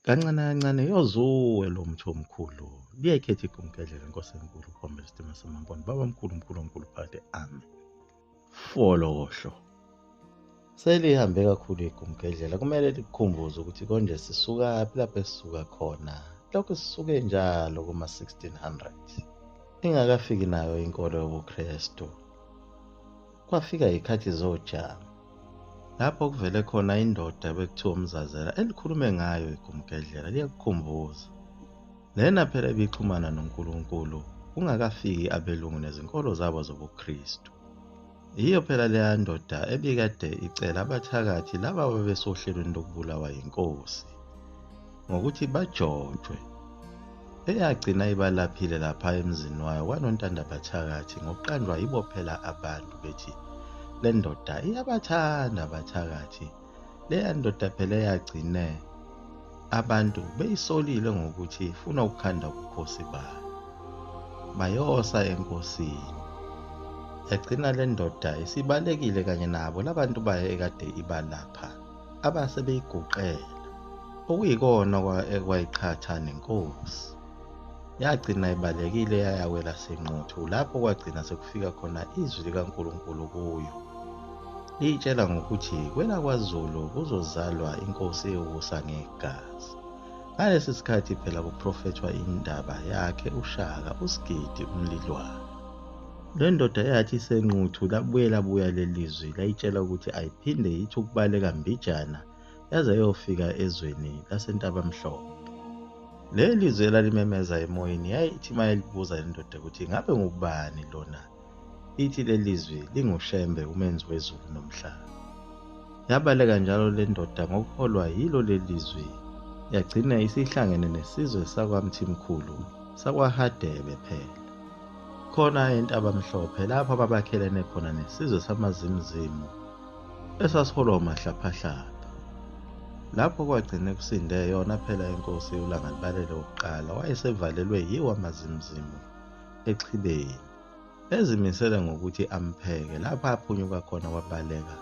kancane kancane yozuwe lo mthi omkhulu liyayikhetha igumgedlela inkosi enkulu uphombe isitima samamponi baba mkhulu mkhulu omkhulu phakade ame folokohlo selihambe kakhulu igumgedlela kumele likukhumbuze ukuthi konje sisukaphi lapho esisuka khona lokhu sisuke njalo kuma-1600 ingakafiki nayo inkolo yobuKristu Kwafika ikhathi zojama lapho kuvele khona indoda bekuthiwa umzazela elikhulume ngayo igumgedlela liyakukhumbuza lena phela ibixhumana noNkulunkulu kungakafiki abelungu nezinkolo zabo zobuKristu yiyo phela leya ndoda ebikade icela abathakathi laba babesohlelweni lokubulawa yinkosi ngokuthi bajojwe eyagcina ibalaphile lapha emzini wayo kwanontanda bathakathi ngokuqanjwa yibo phela abantu bethi le ndoda iyabathanda abathakathi leya ndoda phela eyagcine abantu beyisolile ngokuthi ifuna ukukhanda ubukhosi bayo bayosa enkosini yagcina le ndoda isibalekile kanye nabo labantu bayo ekade ibalapha abase beyiguqela okuyikona ekwayiqhatha nenkosi yagcina ibalekile yayawela senquthu lapho kwagcina sekufika khona izwi likaNkulunkulu kuyo liyitshela ngokuthi kwelakwaZulu kuzozalwa inkosi ewusa ngegazi ngalesi sikhathi phela kuprofethwa indaba yakhe ushaka usigidi umlilwane Le ndoda eyathi isenquthu labuye labuya lelizwi layitshela ukuthi ayiphinde yithi ukubaleka mbijana yaze yofika ezweni lasentabamhlophe. Le lizwi elalimemeza emoyeni yayithi uma elibuza le ndoda ukuthi ngabe ngubani lona ithi le lizwi lingushembe umenzi wezulu nomhlaba. Yabaleka njalo le ndoda ngokuholwa yilo le lizwi yagcina isihlangene nesizwe sakwamthimkhulu sakwahadebe phela. khona entabamhlophe lapho ababakhelene khona nesizwe samazimzimu esasiholwa umahlaphahlapha lapho kwagcine kusinde yona phela inkosi ulangalibalele wokuqala wayesevalelwe yiwo amazimzimu exhibeni ezimisele ngokuthi ampheke lapho aphunyuka khona wabaleka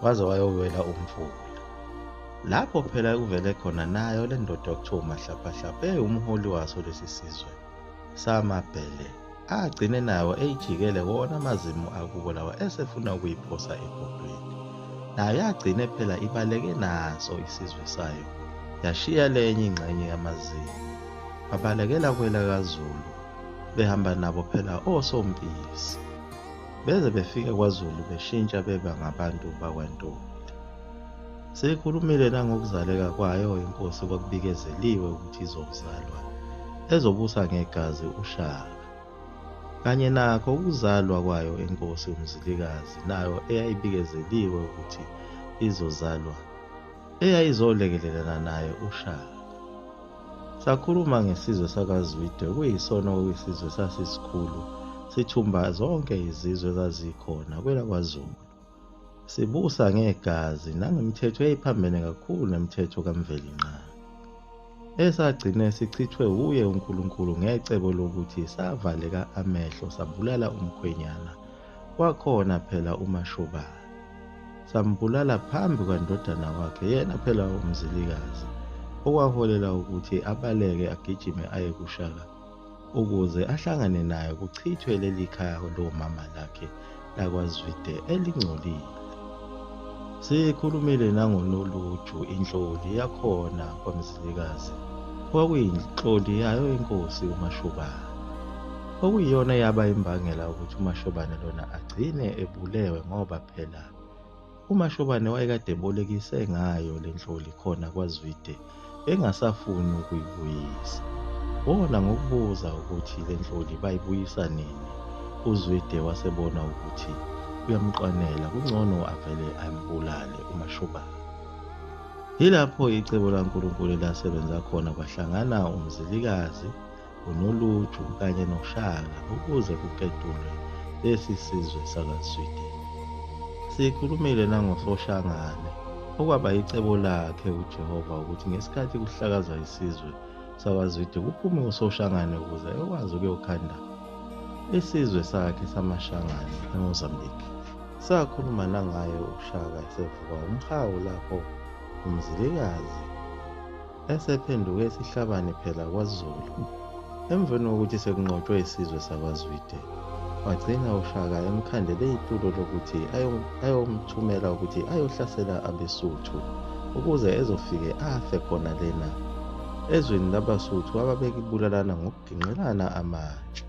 waze wayowela umfula lapho phela kuvele khona nayo le ndoda okuthiwa umahlaphahlapha eyumholi waso lesi sizwe samabhele agcine nawo eyijikele wona amazimu akubo lawa esefuna ukuyiphosa ebhodweni nayo yagcine phela ibaleke naso isizwe sayo yashiya lenye ingxenye yamazimu babalekela kwela kazulu behamba nabo phela osompisi beze befike kwazulu beshintsha beba ngabantu bakwantombi Seyikhulumile nangokuzaleka kwayo inkosi okwakubikezeliwe ukuthi izokuzalwa, ezobusa ngegazi uShaka. Kanye nakho ukuzalwa kwayo inkosi uMzilikazi nayo eyayibikezeliwe ukuthi izozalwa, eyayizolekelelana naye uShaka. Sakhuluma ngesizwe sakaZwide okuyisona okuyisizwe sasisikhulu sithumba zonke izizwe ezazikhona kwelakwaZulu. sibusa ngegazi nangemithetho eyayiphambene kakhulu nemithetho kamvelinqaba esagcine sichithwe wuye uNkulunkulu ngecebo lokuthi savaleka amehlo sabulala umkhwenyana kwakhona phela umashobana sambulala phambi kwandodana wakhe yena phela umzilikazi okwaholela ukuthi abaleke agijime aye kushaka ukuze ahlangane nayo kuchithwe leli khaya lomama lakhe lakwazwide elingcolile sikhulumile nangonoluju inhloli yakhona kwamzilikazi kwakuyinhloli yayo inkosi umashobana okuyiyona yaba imbangela ukuthi umashobane lona agcine ebulewe ngoba phela UMashobane wayekade ebolekise ngayo le nhloli khona kwaZwide engasafuni ukuyibuyisa. Wona ngokubuza ukuthi le nhloli bayibuyisa nini, uZwide wasebona ukuthi uyamqwanela kungcono avele ambulale uMashobane. Yilapho icebo laNkulunkulu elasebenza khona kwahlangana uMzilikazi uNoluju kanye noShaka ukuze kuketulwe lesi sizwe sakaSweden. Sikhulumile nangoSoshangane okwaba yicebo lakhe uJehova ukuthi ngesikhathi kuhlakazwa isizwe sakwaZwide kuphume uSoshangane ukuze ekwazi ukuyokhanda isizwe sakhe samaShangane eMozambique. Sakhuluma nangaye uShaka esevuka umhawu lapho uMzilikazi esephenduke isihlabani phela kwazulu emveni kokuthi sekunqotshwe isizwe sakwazwide wagcina ushaka emkhandele itulo lokuthi ayomthumela ukuthi ayohlasela abesuthu ukuze ezofike afe khona lena ezweni labasuthu ababekibulalana ngokuginqelana amatshe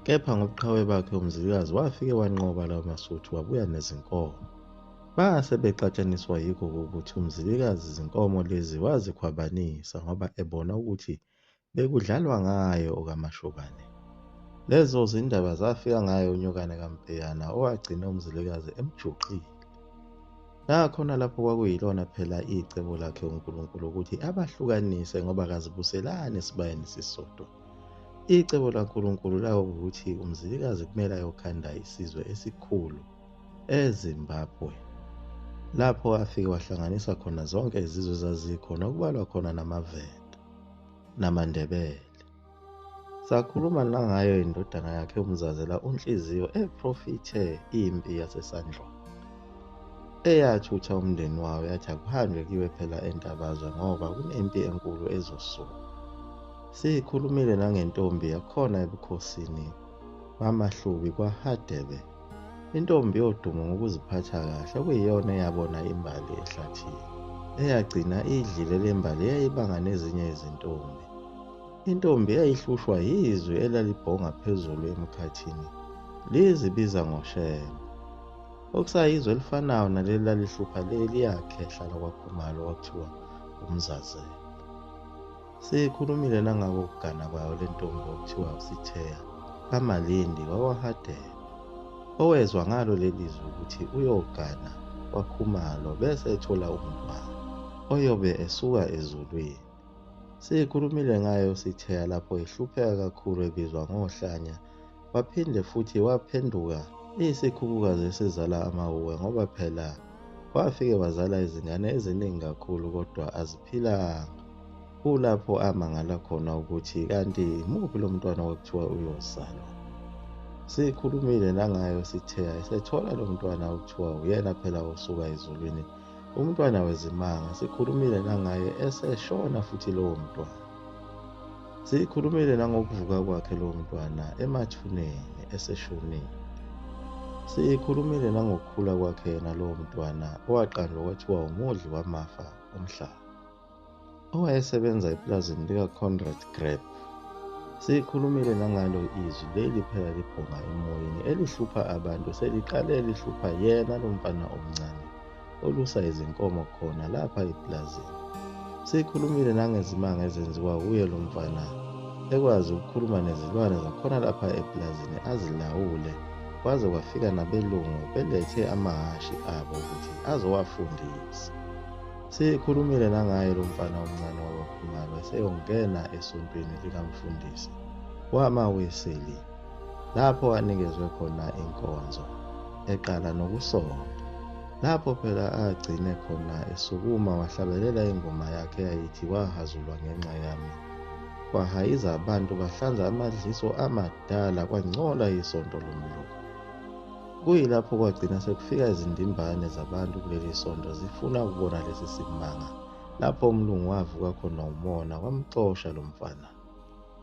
kepha ngobuqhawe bakhe umzilikazi wafike wanqoba lawo masuthu wabuya nezinkomo Base bexatshaniswa yikho ukuthi uMzilikazi izinkomo lezi wazikhwabanisa ngoba ebona ukuthi bekudlalwa ngayo okaMashobane. Lezo zindaba zafika ngaye unyokane kaMpeyana owagcina uMzilikazi emjuqile. Nakhona lapho kwakuyilona phela icebo lakhe uNkulunkulu ukuthi abahlukanise ngoba kazibuselani esibayeni sisodwa. Icebo laNkulunkulu lawo ukuthi uMzilikazi kumele ayokhanda isizwe esikhulu ezimbabwe lapho afike wahlanganisa khona zonke izizwe ezazikhona okubalwa khona namavenda namandebele sakhuluma nangayo indodana yakhe umzazela unhliziyo eprofithe impi yasesandlwana eyathutha umndeni wawo yathi akuhanjwe kiwe phela entabazwe ngoba kunempi enkulu ezosuka siyikhulumile nangentombi yakhona ebukhosini bamahlubi kwahadebe Intombi yodumo ngokuziphatha kahle okuyiyona eyabona imbali ehlathini. Eyagcina idlile le mbali eyayibanga nezinye izintombi. Intombi eyayihlushwa yizwi elalibhonga phezulu emkhathini lizibiza ngoShembe. Okusayizwe elifanayo naleli lalihlupha leli yakhehla lakwaKhumalo kwakuthiwa uMzazela. Siyikhulumile nangakokugana kwayo le ntombi okuthiwa usitheya kamalindi wawahadela owezwa ngalo leli zwi ukuthi uyogana kwakhumalo bese ethola umntwana oyobe esuka ezulwini siyikhulumile ngayo sitheya lapho ehlupheka kakhulu ebizwa ngohlanya waphinde futhi waphenduka iyisikhukukazi esizala amawuwe ngoba phela wafike wazala izingane eziningi kakhulu kodwa aziphilanga kulapho amangala khona ukuthi kanti muphi lo mntwana okuthiwa uyozalwa sikhulumile nangayo sithe ayisethola lo mntwana okuthiwa uyena phela osuka ezulwini umntwana wezimanga sikhulumile nangaye eseshona futhi lowo mntwana Siyikhulumile nangokuvuka kwakhe lo mntwana emathuneni eseshonile. Siyikhulumile nangokukhula kwakhe yena lo mntwana owaqanjwa kwathiwa umudli wamafa omhlaba. Owayesebenza epulazini likaConrad Greb. Siyikhulumile nangalo izwi leli phela libhonga emoyeni elihlupha abantu seliqale lihlupha yena lo mfana omncane. olusa izinkomo khona lapha eplazini sikhulumile nangezimanga ezenziwa kuye lo mfana ekwazi ukukhuluma nezilwane zakhona lapha eplazini azilawule kwaze kwafika nabelungu belethe amahhashi abo ukuthi azowafundisa sikhulumile nangaye lo mfana omncane wabakhumalo eseyongena esontweni likamfundisi wama weseli lapho anikezwe khona inkonzo eqala nokusonta lapho phela agcine khona esukuma wahlabelela ingoma yakhe yayithi wahazulwa ngenxa yami kwahayiza abantu bahlanza amadliso amadala kwangcola isonto lomlungu kuyilapho kwagcina sekufika izindimbane zabantu kuleli sonto zifuna ukubona lesi simanga lapho umlungu wavuka khona umona wamxosha lo mfana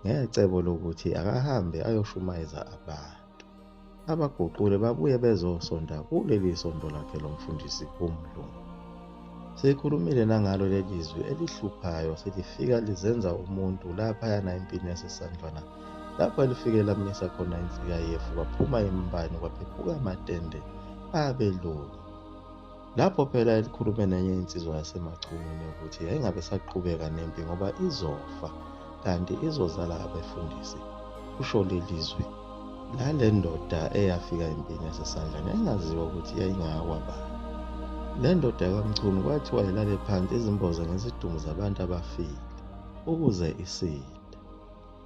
ngecebo lokuthi akahambe ayoshumayeza abantu abaguqule babuye bezosonda kuleli sonto lakhe lomfundisi umlungu sikhulumile nangalo leli zwi elihluphayo selifika lizenza umuntu laphayana empini yasesandlwana lapho elifike lamisa khona insika yefu kwaphuma imbani kwaphephuka amatende abelungu Lapho phela elikhulume nenye insizwa yasemachunwini ukuthi yayingabe saqhubeka nempi ngoba izofa kanti izozala abefundisi kusho leli zwi lale ndoda eyafika empini yasesandlane engaziwa ukuthi yayingayakwabani le ndoda kamchunu kwathiwa ilale phansi izimboze ngezidumbu zabantu abafile ukuze isile